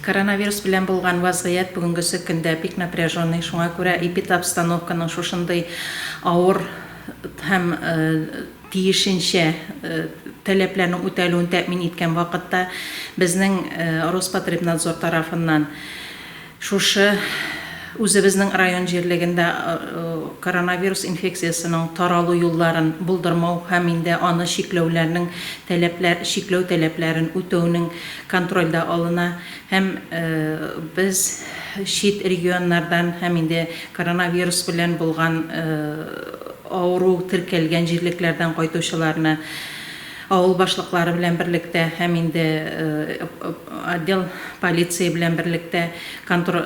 Коронавирус белән булган вазгыять бүгенгесе көндә бик напряженный, шуңа күрә эпидобстановканың шушындый авыр һәм тиешенчә таләпләрнең үтәлүен тәэмин иткән вакытта безнең Роспотребнадзор тарафыннан шушы үзебезнең район җирлегендә коронавирус инфекциясенең таралу юлларын булдырмау һәм инде аны чикләүләрнең таләпләр чикләү таләпләрен үтәүнең контрольдә алына һәм без чит регионнардан һәм инде коронавирус белән булган авыру теркәлгән җирлекләрдән кайтучыларны авыл башлыклары белән берлектә һәм инде отдел полиция белән берлектә Контор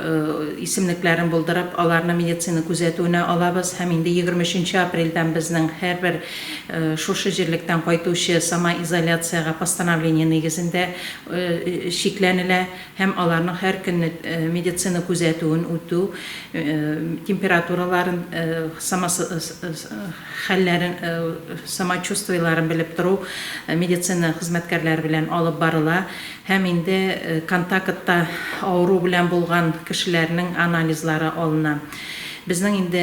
исемлекләрен булдырып, аларны медицина күзәтүенә алабыз һәм инде егерме өченче апрельдән безнең һәрбер шушы җирлектән кайтучы самоизоляциягә постановление нигезендә чикләнелә һәм аларның һәр көнне медицина күзәтүен үтү, температураларын, хәлләрен, самочувствиеләрен белеп тору медицина хезмәткәрләре белән алып барыла. Һәм инде контакытта авыру белән булган кешеләрнең анализлары алына. Безнең инде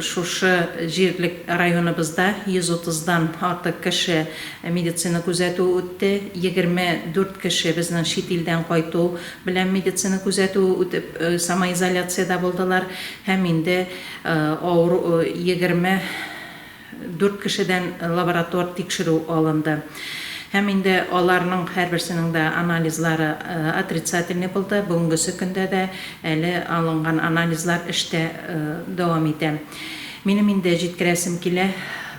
шушы җирлек районыбызда 130 дан артык кеше медицина күзәтүе үтте, 24 кеше безнең чит илдән кайту белән медицина күзәтүе үтеп самоизоляциядә булдылар һәм инде авыру 20 Дүрт кешедән лаборатор тикшерү алынды. Һәм инде аларның һәрберсенең дә анализлары отрицательный булды. Бүгенгесе көндә дә әле алынган анализлар эштә дәвам итә. Минем инде җиткерәсем килә,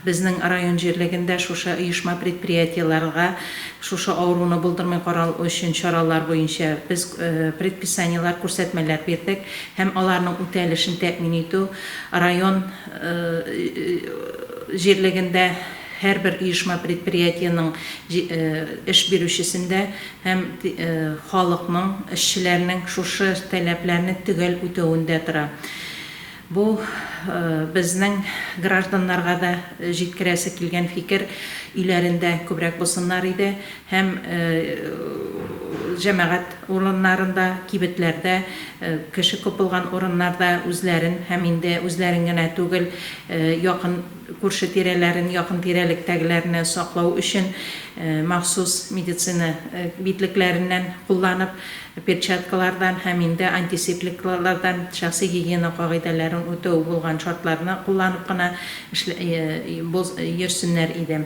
безнең район җирлегендә шушы оешма-предприятиеләрга шушы авыруны булдырмый карау өчен чаралар буенча без предписаниеләр, күрсәтмәләр бирдек. Һәм аларның үтәлешен тәэмин итү район җирлегендә һәрбер оешма-предприятиенең эш бирүчесендә һәм халыкның, эшчеләрнең шушы таләпләрне төгәл үтәвендә тора. Бу, безнең гражданнарга да җиткерәсе килгән фикер, өйләрендә күбрәк булсыннар иде, һәм җәмәгать урыннарында, кибетләрдә, кеше күп булган урыннарда үзләрен һәм инде үзләрен генә түгел, якын күрше-тирәләрен, якын тирәлектәгеләрне саклау өчен махсус медицина битлекләреннән кулланып, перчаткалардан һәм инде антисепликлардан, шәхси гигиена кагыйдәләрен үтәү булган шартларны кулланып кына йөрсеннәр иде.